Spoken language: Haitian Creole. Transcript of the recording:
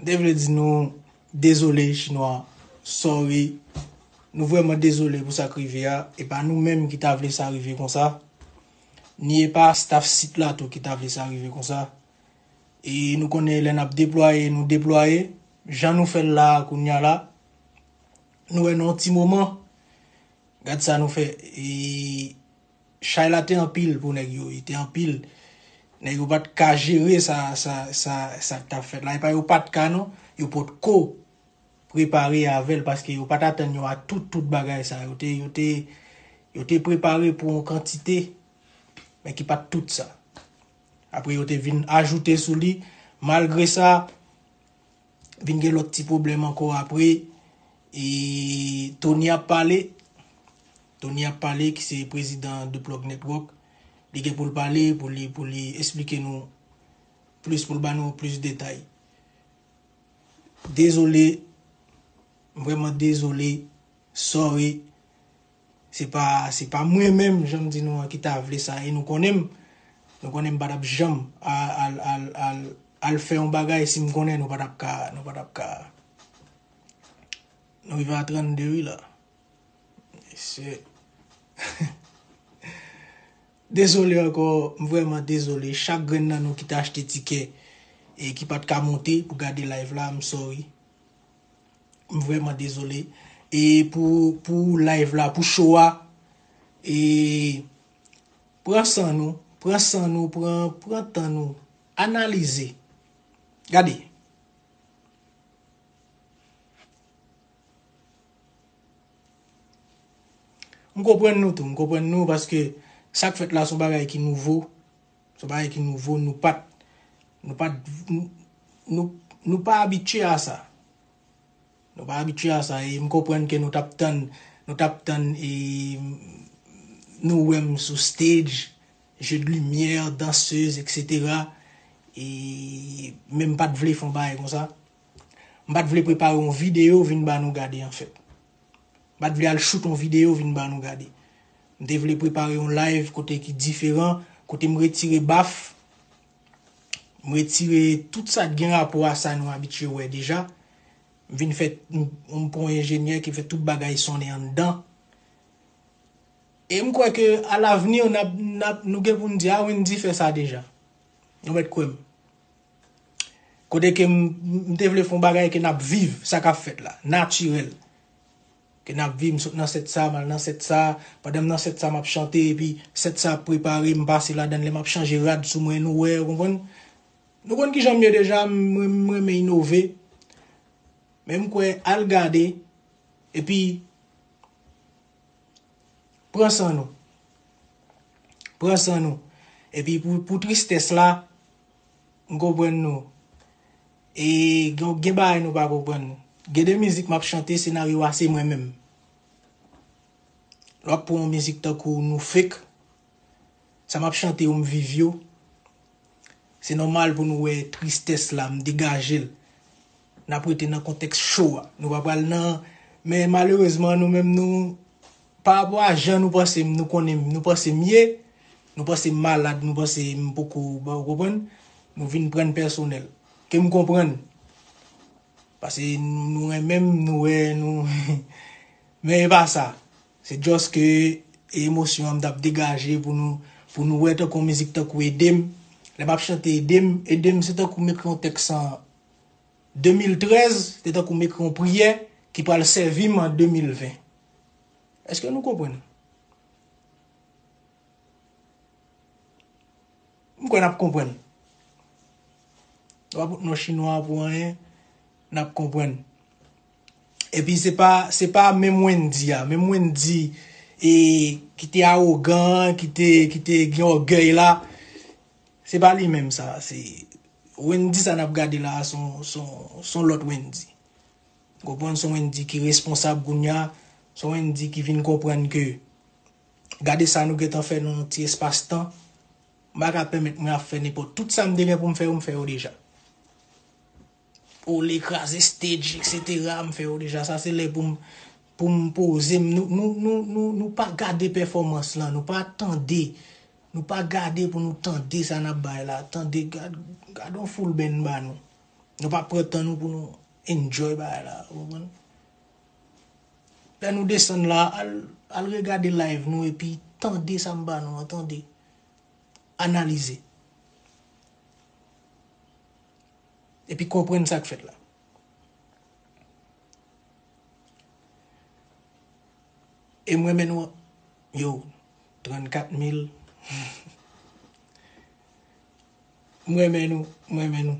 M te vle di nou dezole chinwa sorry nou vrèman dezole pou sak rive a e pa nou menm ki ta vle sa rive konsa ni e pa staff sit la tou ki ta vle sa rive konsa e nou konnen lè nap deplwaye nou deplwaye jan nou fèl la a kounya la nou wè nan yon ti moman gad sa nou fè e. Chay la te anpil pou nèg yo wi, te anpil. Nèg yo pa t ka jere sa, sa, sa, sa k t ap fèt la. E pa yo pa t ka non, yo potko prepare avè l paske yo pa t atann yo a tout, tout bagay sa. Yo te, yo te, yo te prepare pou yon kantite men ki pa t tout sa. Apre yo te vin ajoute sou li, malgre sa, Vin gen lòt ti pwoblèm ankò apre e Tony ap pale. Tony ap pale ki se prezidan The Plug Network. Li gen pou l pale pou li pou li esplike nou plis pou l ba nou plis detay. Dezole, m vrèman dezole, sorry. Se pa, se pa mwen menm, jan m di nou an, ki ta vle sa. E nou konnen m. Nou konnen m pa t ap janm al, al, al, al fè yon bagay si m konnen nou pa t ap ka, nou pa t ap ka. Nou rive a 32 wi la. Mesye. Dezole ankò, m vrèman dezole. Chak grenn nan nou ki te achte tikè e ki pa t ka monte pou gade live la, m sorry. M vrèman dezole e pou pou live la pou show a e pran san nou pran san nou pran pran tan nou analize gade m konprann nou tou m konprann nou paske sak fèt la son bagay ki nouvo. Se yon bagay ki nouvo, nou pa t, nou pa t, nou, nou pa abitye a sa. Nou pa abitye a sa e m konprann ke nou t ap tann, nou t ap tann e nou wè m sou stage, jeux de lumière, danseuse etc. E men m pa t vle fè yon bagay konsa. M pa t vle prepare yon video vin ba nou gade anfèt. Mpat vle al shoot on video vin ba nou gade. M te vle prepare yon live kote ki diferan, kote m retire baf, m retire tout sa k gen rapò a sa nou abitye wè deja. M vin fè, m pran yon enjenyè ki fè tout bagay sonnen anndan. E m kwè ke a l'avenir nap, nap, nou gen pou n di a Wendy fè sa deja. Nou mèt kwè m. Kote ke m te vle fon bagay ke nap viv sa kap fèt la, natirèl. Ke nap viv m sot nan sèt sa, mal nan sèt sa, pandan m nan sèt sa map chante epi sèt sa ap prepare m pase ladan lè map chanje rad sou mwen nou wè ou konprann. Nou konn kijan m ye deja m renmen inove men m kwè al gade epi pran san nou. Pran san nou epi pou tristès la. M konprann nou. E gen bagay nou pa konprann. Gen de mizik m ap chante senaryo a se mwen menm. Lè w ap pran yon mizik tankou nou fek, sa m ap chante yo m viv yo. Se nòmal pou nou wè tristès la, m degaje l. N ap rete nan kontèks cho a. Nou pa pral nan, men malerezman nou menm nou. Pa rapò a jan nou panse m, nou konnen m, nou panse m ye, nou panse m malad, nou panse m poko bon, ou konprann? Nou vin pran n pèsonèl. Ke m konprann. Pase nou renmen m, nou wè nou Men e pa sa. Se just ke e emosyon an m tap degaje pou nou pou nou wè tankou yon mizik tankou ede m. Lè m ap chante ede m, ede m se tankou m ekri yon tèks an 2013, se tankou m ekri yon priyè ki pral sèvi m an 2020. Eske nou konprann? M kwè nap konprann. Wap fout non chinwa pou anyen, nap konprann. Epi se pa, se pa menm Wendy a, menm Wendy e ki te awogan, ki te, ki te gen ògèy la, se pa li menm sa, se Wendy sa nap gade la son, son, son lòt Wendy. Ou konprann son Wendy ki responsab kounya, son Wendy ki vin konprann ke gade sa nou gentan fè nan yon ti espas tan, m pa ka pèmèt mwen ap fè nenpòt, tout sa m te gen pou m fè yo m fè yo deja. Ole kraze stage etc m fè yo deja, sa se lè pou m pou m poze m, nou nou nou nou nou pa gade pèfòmans lan, nou pa tande, nou pa gade pou nou tande sa n ap bay la, tande gad gad yon full band m ba nou. Nou pa pran tan nou pou nou enjoy bagay la, ou konprann? Lè nou desann la, al regade live nou epi tande sa m ba nou an, tande. Analize. Epi konprann sa k fèt la. E m renmen nou an. Yo, 34 mil. M renmen nou m renmen nou.